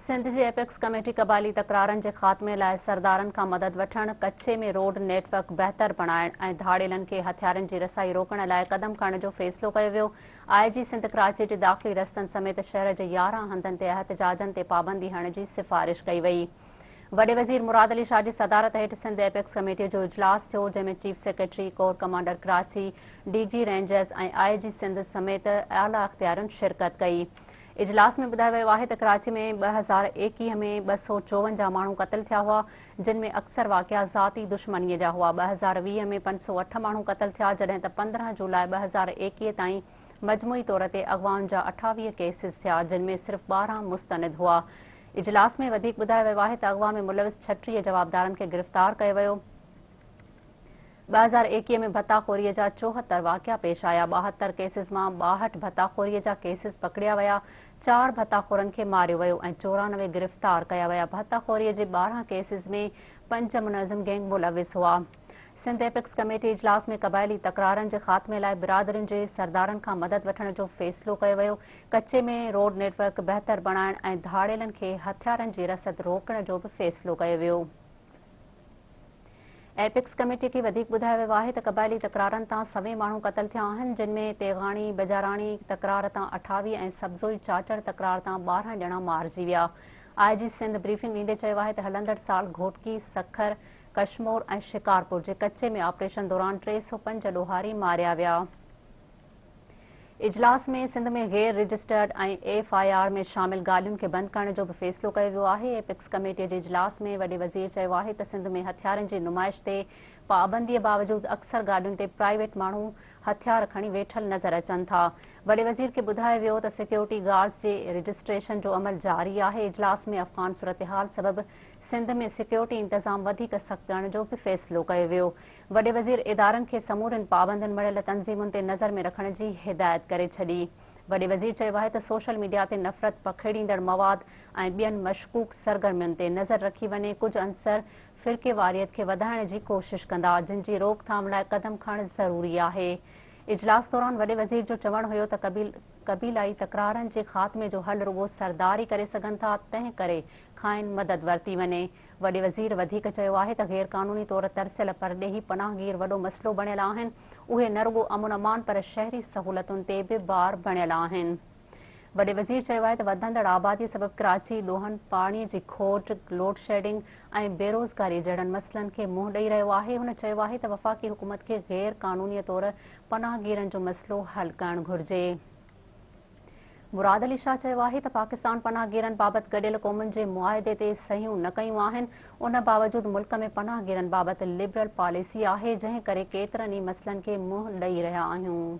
سنڌ جي apex committee قبائلي تڪرارن جي خاتمي لاء سردارن کان مدد وٺڻ، ڪڇي ۾ روڊ نيٽ ورڪ بهتر بڻائڻ ۽ ڌاڙيلن کي هٿيارن جي رسائي روڪڻ لاء قدم کڻڻ جو فيصلو ڪيو ويو. آء جي سنڌ ڪراچي جي داخلي رستن سميت شهر جي يارهن هنڌن تي احتجاجن تي پابندي هڻڻ جي سفارش ڪئي وئي. وڏي وزير مراد علي شاهه جي صدارت هيٺ سنڌ ايپڪس ڪميٽي جو اجلاس ٿيو جنهن ۾ chief secretary, corps commander Karachi, D G rangers ۽ I G Sindh سميت اعليٰ اختيارين شرڪت ڪئي. اجلاس ۾ ٻڌايو ويو آهي ته ڪراچي ۾ ٻه هزار ايڪيهه ۾ ٻه سؤ چوونجاهه ماڻهو قتل ٿيا هئا جن ۾ اڪثر واقعا ذاتي دشمني جا هئا ٻه هزار ويهه ۾ پنج سؤ اٺ ماڻهو قتل ٿيا جڏهن ته پندرهن جولاء ٻه هزار ايڪيهه تائين مجموعي طور تي اغوائن جا اٺاويهه ڪيسز ٿيا جن ۾ صرف ٻارهن مستند هئا اجلاس ۾ وڌيڪ ٻڌايو ويو آهي ته اغوا ۾ ملوث ڇٽيهه جوابدارن کي گرفتار ڪيو ويو، ٻه هزار ايڪيهه ۾ ڀتا خوري جا چوهتر واقعا پيش آيا، ٻاهتر ڪيسز مان ٻاهٺ ڀتا خوري جا ڪيسز پڪڙيا ويا، چار ڀتا خورن کي ماريو ويو ۽ چورانوي گرفتار ڪيا ويا، ڀتا خوري جي ٻارهن ڪيسز ۾ پنج منظم گينگ ملوث هئا. سنڌ ايپڪس ڪميٽي اجلاس ۾ قبائلي تڪرارن جي خاتمي لاء برادرين جي سردارن کان مدد وٺڻ جو فيصلو ڪيو ويو، ڪچي ۾ روڊ نيٽ ورڪ بهتر بڻائڻ ۽ ڌاڙيلن کي هٿيارن جي رسد روڪڻ جو به فيصلو ڪيو ويو. ايپڪس ڪميٽي کي وڌيڪ ٻڌايو ويو آهي ته قبائلي تڪرارن تان سوين ماڻهو قتل ٿيا آهن جن ۾ تيغاڻي بجاراڻي تڪرار تان اٺاويهه ۽ سبزوئي چاچڙ تڪرار تان ٻارهن ڄڻا مارجي ويا. آء جي سنڌ بريفنگ ڏيندي چيو آهي ته هلندڙ سال گهوٽڪي، سکر، ڪشمور ۽ شڪارپور جي ڪچي ۾ آپريشن دوران ٽي سؤ پنج ڏوهاري ماريا ويا. اجلاس ۾ سنڌ ۾ غير رجسٽرڊ ۽ ايف آء آر ۾ شامل گاڏين کي بند ڪرڻ جو به فيصلو ڪيو ويو آهي. ايپڪس ڪميٽي جي اجلاس ۾ وڏي وزير چيو آهي ته سنڌ ۾ هٿيارن جي نمائش تي پابندي باوجود اڪثر گاڏين تي پرائيويٽ ماڻهو هٿيار کڻي ويٺل نظر اچن ٿا. وڏي وزير کي ٻڌايو ويو ته سيڪيورٽي گارڊز جي رجسٽريشن جو عمل جاري آهي. اجلاس ۾ افغان صورتحال سبب سنڌ ۾ سيڪيورٽي انتظام وڌيڪ سخت ڪرڻ جو به فيصلو ڪيو ويو. وڏي وزير ادارن کي سمورين پابندين مڙهيل تنظيمن تي نظر ۾ رکڻ جي هدايت ڪري ڇڏي. وڏي وزير چيو آهي ته سوشل ميڊيا تي نفرت پکيڙيندڙ مواد ۽ ٻين مشڪوڪ سرگرمين تي نظر رکي وڃي، ڪجهه عنصر فرقيواريت کي وڌائڻ جي ڪوشش ڪندا، جن جي روڪ ٿام لاء قدم کڻڻ ضروري آهي. اجلاس دوران وڏي وزير جو چوڻ هيو ته قبيلائي تڪرارن جي خاتمي جو حل رڳو سردار ئي ڪري سگهن ٿا، تنهن ڪري کانئن مدد ورتي وڃي. وڏي وزير وڌيڪ چيو آهي ته غير قانوني طور ترسيل پرڏيهي پناهگير وڏو مسئلو بڻيل آهن، اهي نه رڳو امن امان پر شهري سهولتن تي به بار بڻيل آهن. وڏي وزير چيو آهي ته وڌندڙ آبادي سبب ڪراچي ڏوهن پاڻي جي کوٽ، لوڊشيڊنگ ۽ بيروزگاري جهڙن مسئلن کي منهن ڏئي رهيو آهي، هن چيو آهي ته وفاقي حڪومت کي غير قانوني طور پناهگيرن جو مسئلو حل ڪرڻ گهرجي. مراد علي شاهه چيو آهي ته پاڪستان پناهگيرن بابت گڏيل قومن جي معاهدي تي صحيحون نه ڪيون آهن، ان باوجود ملڪ ۾ پناهگيرن بابت لبرل پاليسي آهي، جنهن ڪري ڪيترن ئي مسئلن کي منهن ڏئي رهيا آهيون.